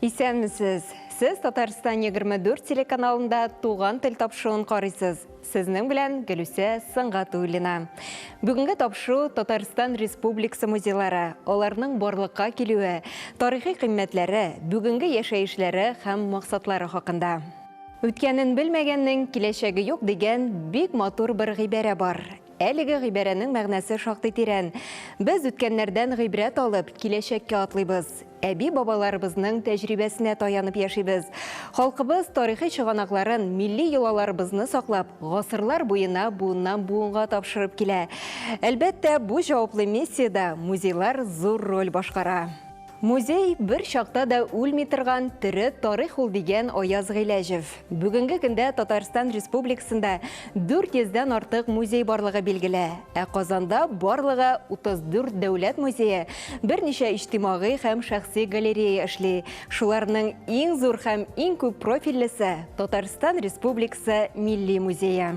Исәнмесез! Сез Татарстан 24 телеканалында Туган тел тапшыуын карыйсыз. Сезнең белән Гөлүсә Сангатуллина. Бүгенге тапшыу Татарстан Республикасы музейлары, аларның барлыкка килүе, тарихи кыйммәтләре, бүгенге яшәешләре һәм максатлары хакында. Үткәнен белмәгәннең киләчәге юк дигән бик матур бер гыйбарә бар. Әлеге гыйбарәнең мәгънәсе шактый тирән. Без үткәннәрдән гыйбрәт алып, киләчәккә атлыйбыз. Әби-бабаларыбызның тәҗрибәсенә таянып яшибез. Халкыбыз тарихи чыганакларын, милли йолаларыбызны саклап, гасырлар буена буыннан-буынга тапшырып килә. Әлбәттә, бу җаваплы миссиядә музейлар зур роль башкара. Музей, бер чакта да үлми торган тере тарих ул, дигән Аяз Гыйләҗев. Бүгенге көндә Татарстан Республикасында 400 дән артык музей барлыгы билгеле. Ә Казанда барлыгы 34 дәүләт музее, берничә иҗтимагый һәм шәхси галерея эшли. Шуларның иң зур һәм иң күп профильлесе Татарстан Республикасы Милли музее.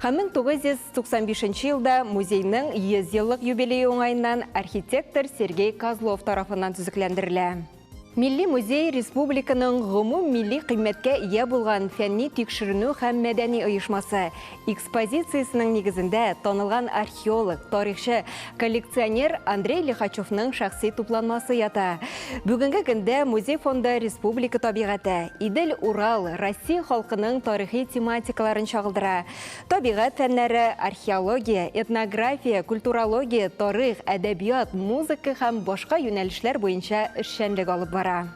Һәм 1995 нче елда музейның 100 еллык юбилее уңаеннан архитектор Сергей Козлов тарафыннан төзекләндерелә. Милли музей республиканың гомум милли кыйммәткә ия булган фәнни-тикшеренү һәм мәдәни оешмасы. Экспозициясенең нигезендә танылган архитектор археолог, тарихчы, коллекционер Андрей Лихачевның шәхси тупланмасы ята. Бүгенге көндә музей фонда республика табигате, Идел, Урал, Россия халкының тарихи тематикаларын чагылдыра. Табигат фәннәре, археология, этнография, культурология, тарих, әдәбият, музыка һәм башка юнәлешләр буенча эшчәнлек алып бара.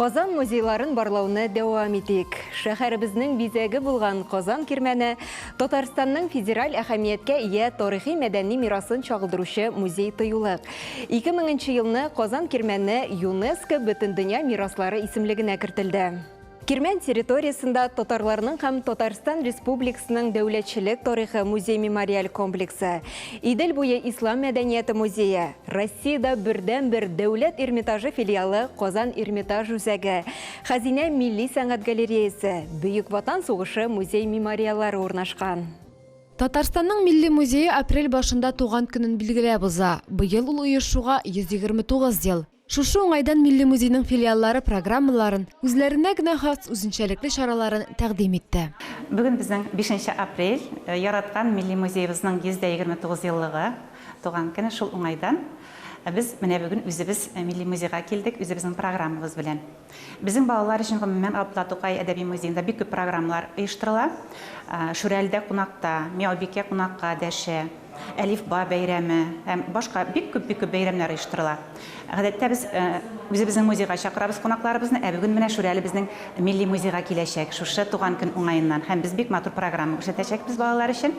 Казан музейларын барлауны дәвам итик. Шәһәребезнең бизәге булган Казан кирмәне Татарстанның федераль әһәмияткә ия тарихи мәдәни мирасын чагылдыручы музей-тыюлык. 2000 елны Казан кирмәне ЮНЕСКО Бөтендөнья мираслары исемлегенә кертелде. Кирмән территориясендә татарларның һәм Татарстан Республикасының дәүләтчелек тарихы музей-мемориаль комплексы, Идел буе ислам мәдәнияте музее, Россиядә бердәнбер Дәүләт Эрмитажы филиалы Казан Эрмитаж үзәге, Хәзинә милли сәнгать галереясе, Бөек Ватан сугышы музей-мемориаллары урнашкан. Татарстанның Милли музее апрель башында туган көнен билгеләп уза. Быел ул оешуга 129 ел. Шушы уңайдан Милли музейның филиаллары программаларын, үзләренә генә хас үзенчәлекле чараларын тәкъдим итте. Бүген безнең, бишенче апрель, яраткан Милли музеебызның 129 еллыгы, туган көне. Шул уңайдан без менә бүген үзебез Милли музейга килдек, үзебезнең программабыз белән. Безнең балалар өчен гомумән Габдулла Тукай әдәби музеенда бик күп программалар оештырыла. Шүрәледә кунакта, Миаубикә кунакка дәшә, Әлифба бәйрәме һәм башка бик күп, бик күп бәйрәмнәр оештырыла. Гадәттә без үзебезнең музейга чакырабыз кунакларыбызны, ә бүген менә Шүрәлебезнең милли музейга киләчәк, шушы туган көн уңаеннан һәм без бик матур программа күрсәтәчәкбез балалар өчен.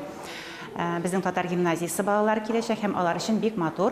Безнең татар гимназиясе балалары киләчәк һәм алар өчен бик матур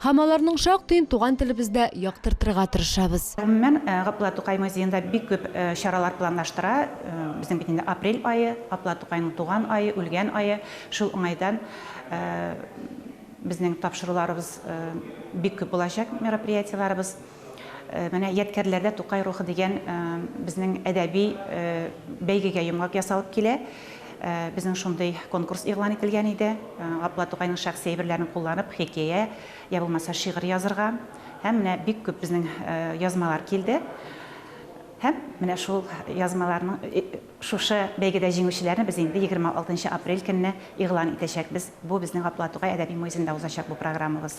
Һәм аларның шактыен туган телебездә яктыртырга тырышабыз. Гомумән, Габдулла Тукай музеенда бик күп чаралар планлаштыра. Безнең бит инде апрель ае, Габдулла Тукайның туган ае, үлгән ае. Шул уңайдан безнең тапшыруларыбыз бик күп булачак, мероприятиеләребез. Менә Ядкәрләрдә Тукай рухы дигән безнең әдәби бәйгегә йомгак ясалып килә. Безнең шундый конкурс игълан ителгән иде. Габдулла Тукайның шәхси әйберләрен кулланып, хикәя, я булмаса шигырь язырга. Һәм менә бик күп безнең язмалар килде. Һәм менә шул язмаларның шушы бәйгедә җиңүчеләрен без инде 26 нчы апрель көнне игълан итәчәкбез. Бу безнең Габдулла Тукай әдәби музенда узачак бу программабыз.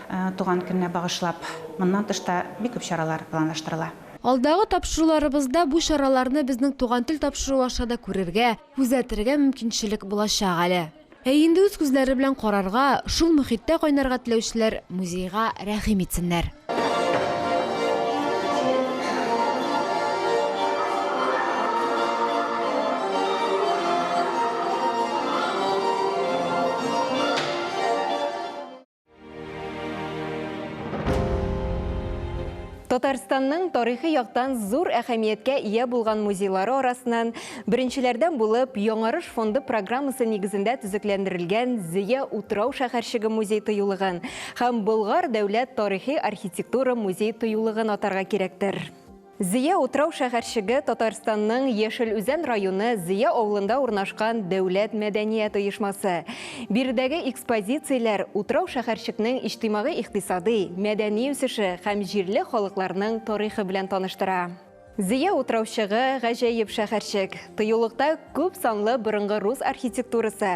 Туган көненә багышлап моннан тыш та бик күп чаралар планлаштырыла. Алдагы тапшыруларыбызда бу чараларны безнең Туган тел тапшыруы аша да күрергә, күзәтергә мөмкинчелек булачак әле. Ә инде үз күзләре белән карарга, шул мөхиттә кайнарга теләүчеләр музейга рәхим итсеннәр. Татарстанның тарихи яктан зур әһәмияткә ия булган музейлары арасынан беренчеләрдән булып Яңарыш фонды программасы нигезендә төзекләндерелгән Зия утрау шәһәрчеге музей тыюлыгын һәм Болгар дәүләт тарихи архитектура музей тыюлыгын атарга кирәктер. Зөя утрау шәһәрчеге Татарстанның Яшел Үзән районы Зөя авылында урнашкан дәүләт мәдәният оешмасы. Биредәге экспозицияләр утрау шәһәрчекнең иҗтимагый-икътисадый, мәдәни үсеше һәм җирле халыкларның тарихы белән таныштыра. Зөя утраучыгы, гаҗәеп шәһәрчек. Тыюлыкта күп санлы борынгы рус архитектурасы,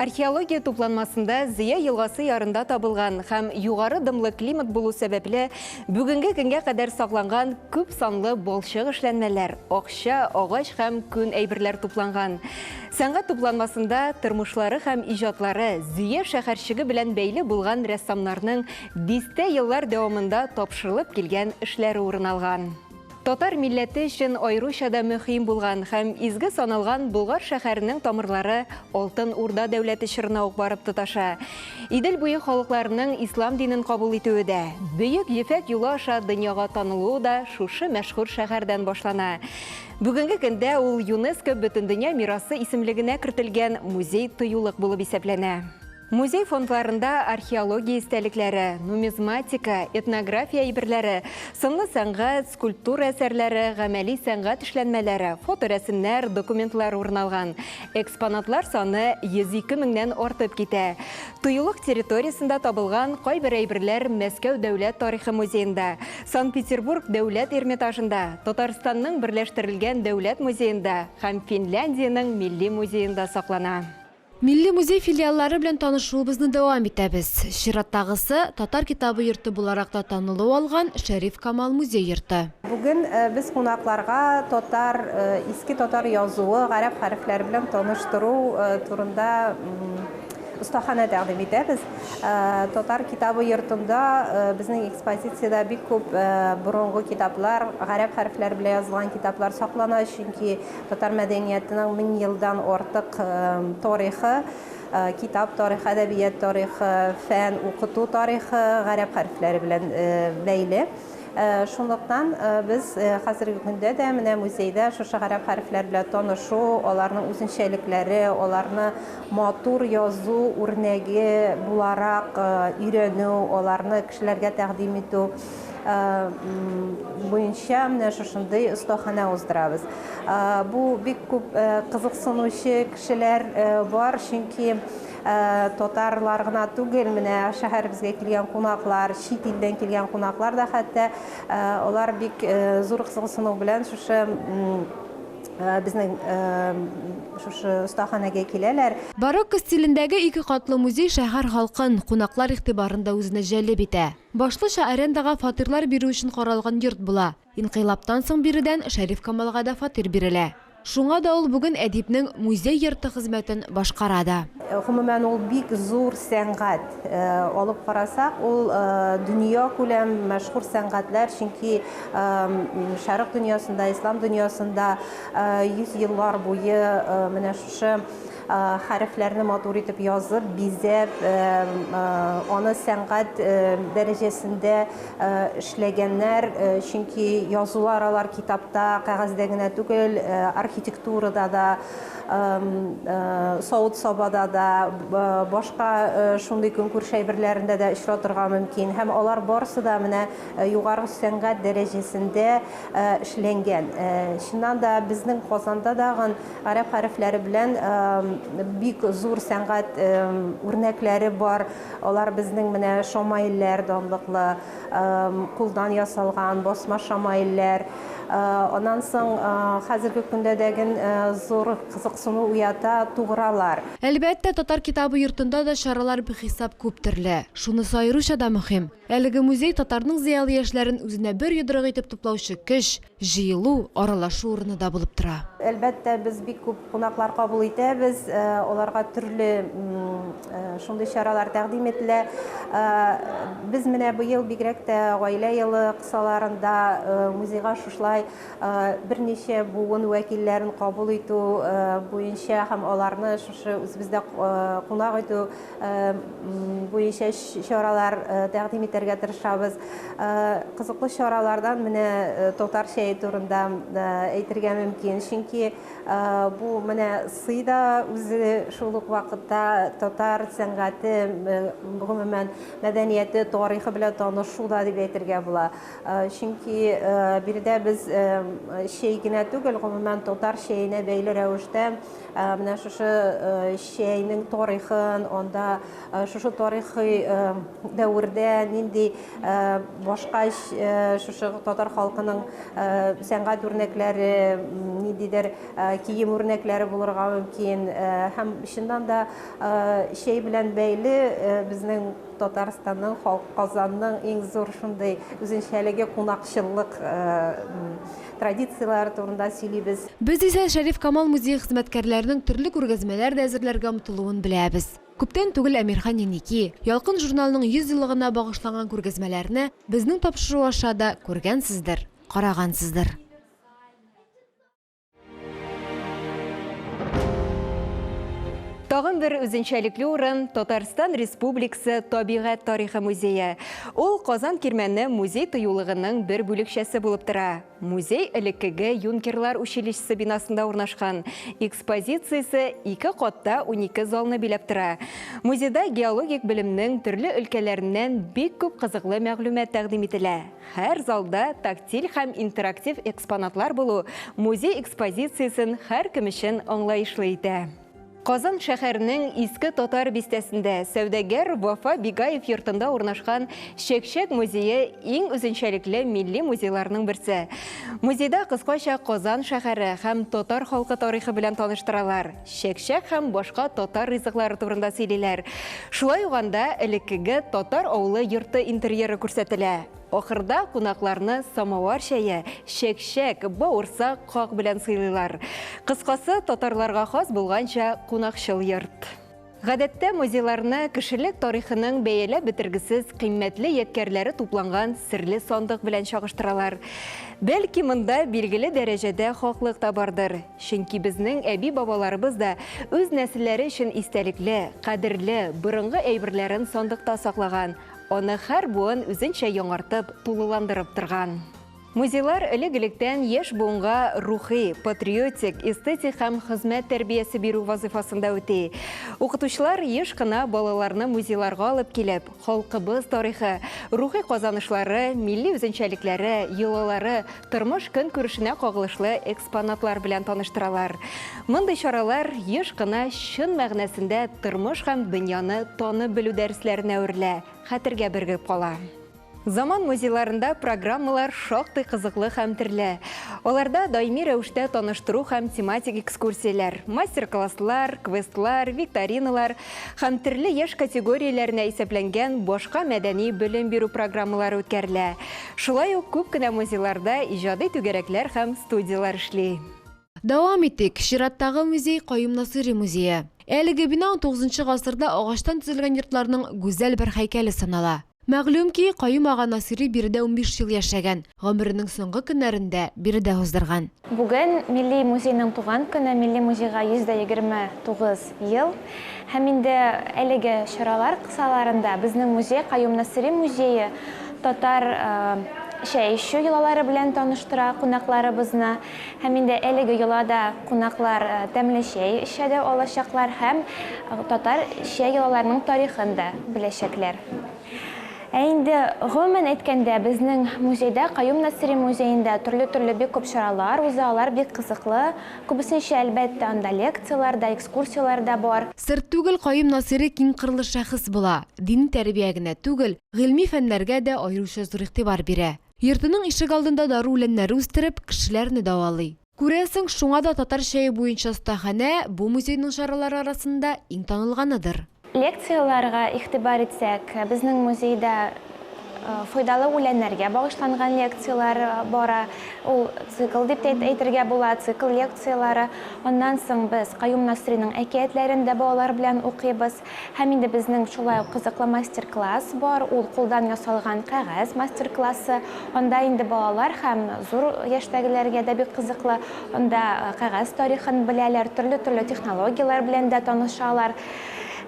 Археология тупланмасында Зыя елгасы ярында табылган һәм югары дымлы климат булу сәбәпле, бүгенге көнгә кадәр сакланган күп санлы балчык эшләнмәләр, акча, агач һәм күн әйберләр тупланган. Сәнгать тупланмасында тормышлары һәм иҗатлары Зөя шәһәрчеге белән бәйле булган рәссамнарның дистә еллар дәвамында тапшырылып килгән эшләре урын алган. Татар милләте өчен аеруча да мөһим булган һәм изге саналган Болгар шәһәренең тамырлары Алтын Урда дәүләте чорына ук барып тоташа. Идел буе халыкларының ислам динен кабул итүе дә, Бөек Ефәк юлы аша дөньяга танылуы да шушы мәшһүр шәһәрдән башлана. Бүгенге көндә ул ЮНЕСКО Бөтендөнья мирасы исемлегенә кертелгән музей-тыюлык булып исәпләнә. Музей фондларында археология истәлекләре, нумизматика, этнография әйберләре, сынлы сәнгать, скульптура әсәрләре, гамәли сәнгать эшләнмәләре, фоторәсемнәр, документлар урын алган. Экспонатлар саны 102 меңнән артып китә. Тыюлык территориясендә табылган кайбер әйберләр Мәскәү дәүләт тарихы музеенда, Санкт-Петербург дәүләт Эрмитажында, Татарстанның берләштерелгән дәүләт музеенда һәм Финляндиянең милли музеенда саклана. Милли музей филиаллары белән танышуыбызны дәвам итәбез. Чираттагысы, Татар китабы йорты буларак та танылу алган Шәриф Камал музей йорты. Бүген без кунакларга татар, иске татар язуы, гарәп хәрефләре белән таныштыру турында остаханә тәкъдим итәбез. Татар китабы йортында безнең экспозициядә бик күп борынгы китаплар, гарәп хәрефләре белән язылган китаплар саклана, чөнки Татар мәдәниятының мең елдан артык тарихы, китап тарихы, әдәбият тарихы, фән, укыту тарихы гарәп хәрефләре белән бәйле. Шунлыктан без хәзерге көндә дә менә музейда шушы гарәп хәрефләр белән танышу, аларның үзенчәлекләре, аларны матур язу үрнәге буларак өйрәнү, аларны кешеләргә тәкъдим итү, буенча менә шушындый остаханә уздырабыз. Бу бик күп кызыксынучы кешеләр бар, чөнки татарлар гына түгел, менә шәһәребезгә килгән кунаклар, чит илдән килгән кунаклар да хәтта, алар бик зур кызыксыну белән шушы безнең шушы остаханәгә киләләр. Барокко стилендәге ике катлы музей шәһәр халкын, кунаклар игътибарын да үзенә җәлеп итә. Башлыча арендага фатирлар бирү өчен каралган йорт була. Инкыйлабтан соң биредән Шәриф Камалга да фатир бирелә. Шуңа да ул бүген Әдипнең музей йорты хезмәтен башкара да. Гомумән, ул бик зур сәнгать. Алып карасак, ул дөньякүләм мәшһүр сәнгатьләр, чөнки Шәрык дөньясында, Ислам дөньясында йөз еллар буе менә шушы Хәрефләрне матур итеп язып, бизәп, аны сәнгать дәрәҗәсендә эшләгәннәр, чөнки язулар алар китапта, кәгазьдә генә түгел, архитектурада да, савыт-сабада да, башка шундый көнкүреш әйберләрендә дә очратырга мөмкин. Һәм алар барысы да менә югары сәнгать дәрәҗәсендә эшләнгән. Чыннан да, безнең Казанда дагын Гарәп хәрефләре белән бик зур сәнгать үрнәкләре бар. Алар безнең менә шамаилләр данлыклы, кулдан ясалган басма шамаилләр. Аннан соң хәзерге көндә дә ген зур кызыксыну уята тугралар. Әлбәттә, татар китабы йортында да чаралар бихисап күп төрле. Шунысы аеруча да мөһим. Әлеге музей, татарның зыялы яшьләрен үзенә бер йодрык итеп туплаучы көч, җыелу, аралашу урыны да булып тора. Әлбәттә, без бик күп кунаклар кабул итәбез, аларга төрле шундый чаралар тәкъдим ителә. Без менә быел бигрәк тә гаилә елы кысаларында музейга шушылай берничә буын вәкилләрен кабул итү буенча һәм аларны шушы үзебездә кунак итү буенча чаралар тәкъдим итәргә тырышабыз. Кызыклы чаралардан менә татар чәе турында әйтергә мөмкин. Чөнки бу менә сый да үзе шул ук вакытта татар сәнгате, гомумән, мәдәнияте, тарихы белән танышу да дип әйтергә була. Чөнки биредә без чәй генә түгел, гомумән, татар чәенә бәйле рәвештә Ә, менә шушы э, чәйнең тарихын, анда э, шушы тарихи э, дәвердә нинди башка шушы татар халкының сәнгать үрнәкләре, ниндидер кием үрнәкләре булырга мөмкин. Һәм чыннан да чәй белән бәйле безнең Татарстанның, халк Казанның иң зур шундый үзенчәлеге кунакчыллык Традицияләр турында сөйлибез. Без исә Шәриф Камал музее хезмәткәрләренең төрле күргәзмәләр дә әзерләргә омтылуын беләбез. Күптән түгел Әмирхан Еники, Ялкын журналының 100 еллыгына багышланган күргәзмәләрне безнең тапшыру аша да күргәнсездер, карагансыздыр. Тагын бер үзенчәлекле урын, Татарстан Республикасы табигать тарихы музее. Ул Казан Кирмәне музей тыюлыгының бер бүлекчәсе булып тора. Музей элеккеге юнкерлар училищесы бинасында урнашкан. Экспозициясе ике катта унике залны биләп тора. Музейда геологик белемнең төрле өлкәләреннән бик күп кызыклы мәгълүмат тәкъдим ителә. Һәр залда тактиль һәм интерактив экспонатлар булу музей экспозициясен һәркем өчен аңлаешлы итә. Казан шәһәренең Иске Татар бистәсендә сәүдәгәр Вафа Бигаев йортында урнашкан Чәкчәк музее иң үзенчәлекле милли музейларның берсе. Музейда кыскача Казан шәһәре һәм татар халкы тарихы белән таныштыралар, чәкчәк һәм башка татар ризыклары турында сөйлиләр. Шулай ук анда элеккеге татар авылы йорты интерьеры күрсәтелә. Ахырда кунакларны самовар чәе, чәкчәк, бавырсак, как белән сыйлыйлар. Кыскасы, татарларга хас булганча кунакчыл йорт. Гадәттә, музейларны кешелек тарихының бәяләп бетергесез кыйммәтле ядкәрләре тупланган серле сандык белән чагыштыралар. Бәлки, монда билгеле дәрәҗәдә хаклык та бардыр, чөнки безнең әби-бабаларыбыз да үз нәселләре өчен истәлекле, кадерле, борынгы әйберләрен сандыкта саклаган, Аны һәр буын үзенчә яңартып, тулыландырып торган. Музейлар элек-электән яшь буынга рухи, патриотик, эстетик һәм хезмәт тәрбиясе бирү вазыйфасында үти. Укытучылар еш кына балаларны музейларга алып килеп, халкыбыз тарихы, рухи казанышлары, милли үзенчәлекләре, йолалары, Тормыш көнкүрешенә кагылышлы экспонатлар белән таныштыралар. Мондый чаралар еш кына чын мәгънәсендә тормыш һәм дөньяны танып белү дәресләренә әверелә, хәтергә бергеп кала. Заман музейларында программалар шактый кызыклы һәм төрле. Аларда даими рәвештә таныштыру һәм тематик экскурсияләр, мастер-класслар, квестлар, викториналар һәм төрле яшь категорияләренә исәпләнгән башка мәдәни-белем бирү программалары үткәрелә. Шулай ук күп кенә музейларда иҗади түгәрәкләр һәм студияләр эшли. Дәвам итик, чираттагы музей, Каюм Насыйри музее. Әлеге бина унтугызынчы гасырда агачтан төзелгән йортларның гүзәл бер һәйкәле санала. Мәгълүм ки, Каюм ага Насыйри биредә унбиш ел яшәгән, гомеренең соңгы көннәрен дә биредә уздырган. Бүген, Милли музейның туган көне, Милли музейга 129 ел. Һәм инде әлеге чаралар кысаларында безнең музей Каюм Насыйри музее татар чәй эчү йолалары белән таныштыра кунакларыбызны. Һәм инде әлеге йолада кунаклар тәмле чәй эчә дә алачаклар һәм татар чәй йолаларының тарихын да беләчәкләр. Ә инде гомумән әйткәндә, безнең музейда, Каюм Насыйри музеенда төрле-төрле бик күп чаралар уза, алар бик кызыклы. Күбесенчә, әлбәттә, анда лекцияләр дә, экскурсияләр дә бар. Сер түгел, Каюм Насыйри киңкырлы шәхес була, дини тәрбия генә түгел, гыйльми фәннәргә дә аеруча зур игътибар бирә. Йортының ишегалдында дару үләннәре үстереп, кешеләрне дәвалый. Күрәсең, шуңа да татар чәе буенча остаханә бу музейның чаралары арасында иң танылганыдыр. Лекцияләргә игътибар итсәк, безнең музейда файдалы үләннәргә багышланган лекцияләр бара. Ул цикл дип тә әйтергә була, цикл лекцияләре. Аннан соң без Каюм Насыйриның әкиятләрен дә балалар белән укыйбыз. Һәм инде безнең шулай ук кызыклы мастер-класс бар, ул кулдан ясалган кәгазь мастер-классы. Анда инде балалар һәм зур яшьтәгеләргә дә бик кызыклы. Анда кәгазь тарихын беләләр, төрле-төрле технологияләр белән дә танышалар.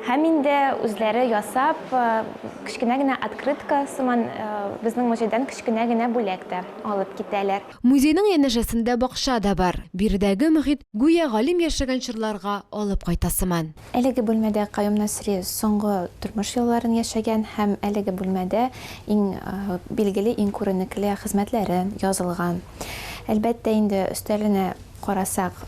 Һәм инде үзләре ясап, кечкенә генә открытка сыман безнең музейдан кечкенә генә бүләк тә алып китәләр. Музейның янәшәсендә бакча да бар. Биредәге мохит гүя галим яшәгән чорларга алып кайта сыман. Әлеге бүлмәдә Каюм Насри соңгы тормыш елларын яшәгән һәм әлеге бүлмәдә иң билгеле, иң күренекле хезмәтләре язылган. Әлбәттә инде, өстәленә карасак,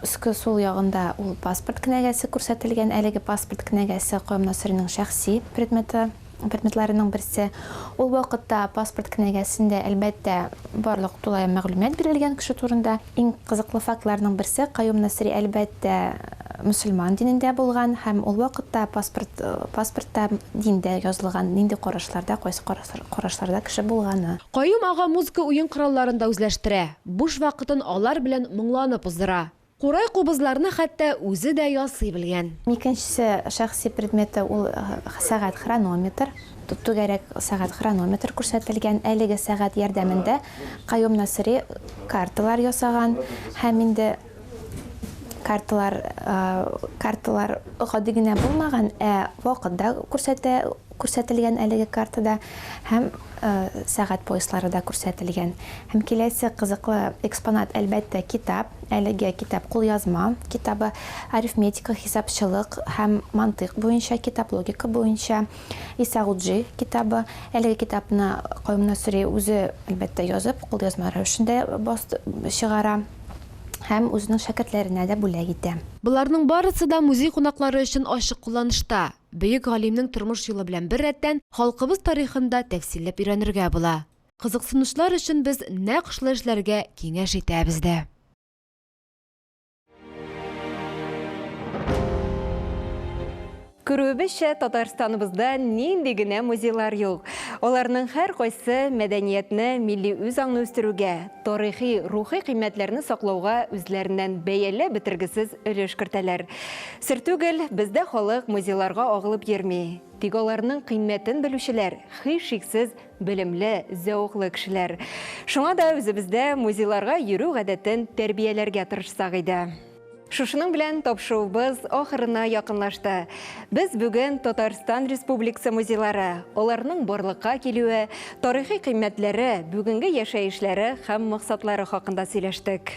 өске сул ягында ул паспорт кенәгәсе күрсәтелгән, әлеге паспорт кенәгәсе Каюм Насриның шәхси предметы. предметларының берсе. Ул вакытта паспорт кенәгәсендә, әлбәттә, барлык тулаем мәгълүмат бирелгән кеше турында. Иң кызыклы фактларның берсе, Каюм Насыйри, әлбәттә, мөселман динендә булган һәм ул вакытта паспорт, паспортта диндә язылган, нинди карашларда, кайсы карашларда кеше булганы. Каюм ага музыка уен коралларын да үзләштерә, буш вакытын алар белән моңланып уздыра. Курай кубызларны хәтта үзе дә ясый белгән. Икенче шәхси предметы ул сәгать-хронометр. Түгәрәк сәгать-хронометр күрсәтелгән. Әлеге сәгать ярдәмендә Каюм Насыйри карталар ясаган һәм инде карталар карталар гади генә булмаган, ә вакыт да күрсәтә. күрсәтелгән әлеге картада һәм сәгать пояслары да күрсәтелгән. Һәм киләсе кызыклы экспонат, әлбәттә, китап. Әлеге китап кулъязма китабы, арифметика, хисапчылык һәм мантыйк буенча китап, логика буенча Исагуджи китабы. Әлеге китапны Каюм Насыйри үзе, әлбәттә, язып, кулъязма рәвешендә чыгара һәм үзенең шәкертләренә дә бүләк итә. Боларның барысы да музей кунаклары өчен ачык кулланышта. Бөек галимнең тормыш юлы белән беррәттән, халкыбыз тарихын да тәфсилләп өйрәнергә була. Кызыксынучылар өчен без нәкъ шулай эшләргә киңәш итәбез дә. Күрүебезчә, Татарстаныбызда нинди генә музейлар юк! Аларның һәркайсы мәдәниятне, милли үзаңны үстерүгә, тарихи, рухи кыйммәтләрне саклауга үзләреннән бәяләп бетергесез өлеш кертәләр. Сер түгел, бездә халык музейларга агылып йөрми, тик аларның кыйммәтен белүчеләр, һичшиксез, белемле, зәвыклы кешеләр. Шуңа да үзебездә музейларга йөрү гадәтен тәрбияләргә тырышсак иде. Шушының белән тапшыуыбыз ахырына якынлашты. Без бүген Татарстан Республикасы музейлары, аларның барлыкка килүе, тарихи кыйммәтләре, бүгенге яшәешләре һәм максатлары хакында сөйләштек.